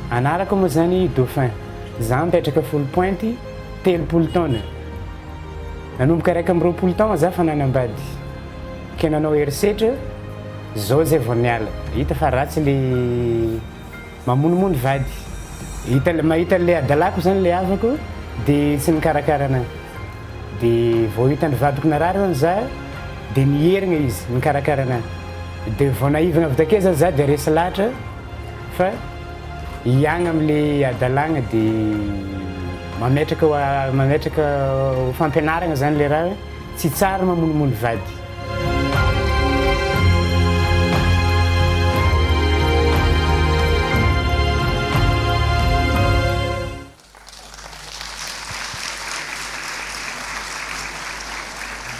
Anarako moa zany Dauphin, za mipetraka Folo Pointy telopolo taona, nanomboka iraika amby roapolo taona za fa nanambady, ke nanao herisetra, zao zay vao niala, hita fa ratsy le. Mamonomono vady. Hita mahita an'ilay adalako izany ilay havako dia tsy nikarakara anahy. Dia vao hitan'ny vadiko narary hono za dia niherigna izy nikarakara anahy. Dia vao naivagna avy takeo zany za dia resy lahatra fa hiagna amin'ilay adalagna dia mametraka ho a- mametraka ho fampianaragna zany ilay raha hoe. Tsy tsara mamonomono vady.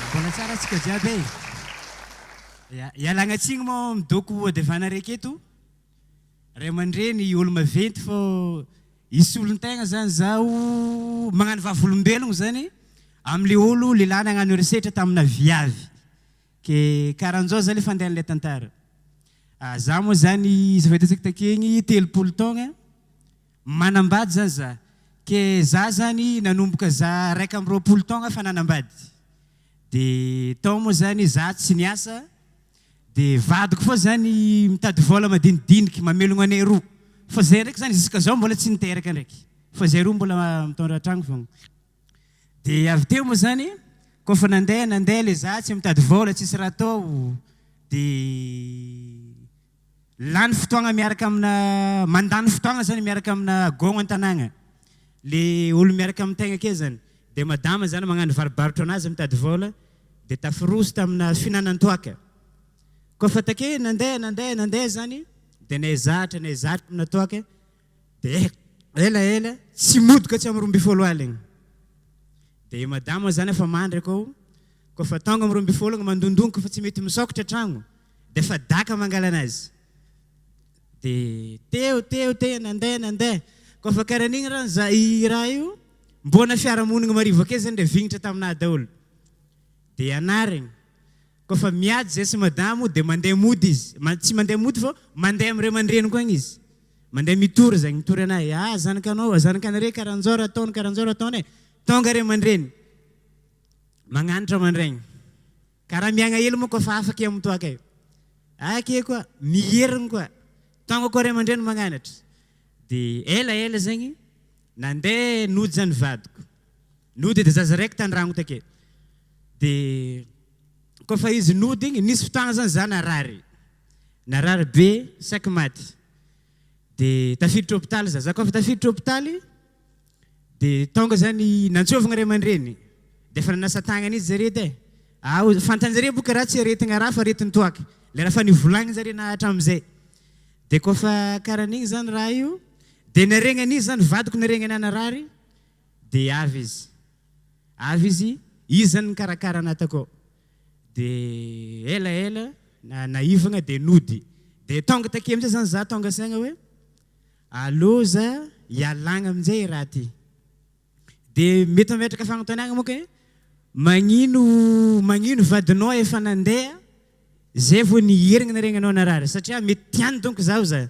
Mbola tsara tsika jiaby e! Ialagna tsiny moa midoko Haut de Vana raiky eto. Ray aman-dreny olo maventy fô i solon-tegna zany zaho magnano vavolombelogno zany amy le olo lehilahy nagnano herisetra tamina viavy ke karanjao zany le fandehan'ilay tantara ah za moa zany izy efa hitantsika takegny telopolo taogna manambady zany za ke za zany nanomboka za raika amby roapolo taogna efa nanambady de tao moa zany za tsy niasa Dia vadiko foa zany mitady vola madinidiniky mamelogno anay roa fa zay ndraiky zany jusqu'à zao mbola tsy niteraka ndraiky fa zay roa mbola mitondra an-tragno fogna. Dia avy teo moa zany koa fa nandeha nandeha le za tsy mitady vola tsisy raha atao dia Lany fotoagna miaraka amina mandany fotoagna zany miaraka amina gôgna an-tanàgna le olo miaraka amin-tegna ake zany de madama zany magnano varobarotra anazy mitady vôla de tafiroso tamina fihinanan-toàka kôfa take nandeha nandeha nandeha zany de nay zatra nay zatra amina toàka Dia ela ela tsy modoka tsy am roa ambin'ny folo aligny dia madama zany efa mandry akao koa fa tonga am roa ambin'ny folo mandondongoka fa tsy mety misokatra tragno dia efa daka mangala anazy dia teo teo teo nandeha nandeha koa fa karaha an'igny raha za i raha io mbona fiarahamonigny marivaka eo zany le vignitra taminah daholo dia anarigny Koa fa miady izay sy mada moa dia mandeha mody izy. Tsy mandeha mody fa mandeha amin'ny ray aman-dreniko any izy. Mandeha mitory izay mitory an'ahy. Ah, zanakanao, ah, zanakanareo karan'izao raha ataony, karan'izao raha ataony e. Tonga ray aman-dreny. Magnanatra aman-draigny. Ka raha miaigna ela moa koa fa afaka eo amin'ny toaka eo. Ah, ke koa, mierigny koa. Tonga koa ray aman-dreny magnanatra. Dia ela ela zegny, nandeha noja ny vadiko. Nody de zaza raiky tandragno take de kôfa izy nody igny nisy fotoagna zany za narary narary be saika maty de tafiditra hôpitaly za za kôfa tafiditra hôpitaly de tônga zany nantsôvigny ray aman-dreny de efa nanasa tagnana izy zare edy e ao fantanjare boka raha tsy aretigna raha fa aretigny toaka le raha efa nivolagniny zare na atramizay de kôfa karan'igny zany raha io de naregny an'izy zany vadiko naregny anahy narary Dia avy izy. Avy izy, iza no nikarakara anà takao? Dia elaela, na naivagna dia nody. Dia tonga takeo amin'izay izany zà, tonga saigna hoe, aleo zà ialagna amin'izay i raha ty. Dia mety mametraka fagnontaniagna manko hoe, magnino, magnino vadinao efa nandeha, zay vao niherigna niregny anao narary? Satria mety tiany donko zaho zà.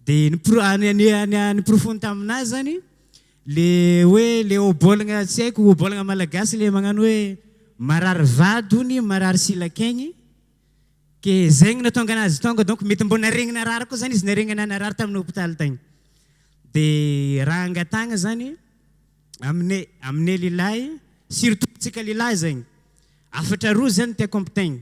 Dia niporofony taminà izany le hoe le obolagna tsy haiko obolagna malagasy le magnano hoe marary vady hono marary silank'aigny ke zay no nahatonga anazy tonga donc mety mbô naharegny narary koa zany izy naharegny anà narary tamin'ny hôpitaly tagny de raha angatahagna zany aminay aminay lehilahy surtout antsika lehilahy zegny hafatra roa zany tiako ampitain.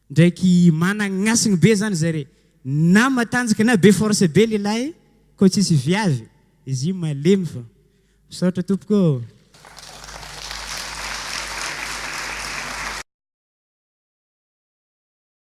Ndraiky managnasigny be zany zay re na matanjaka na be force be lelahy ko tsisy viavy izy io malemy fa. Misaotra tompoko ô.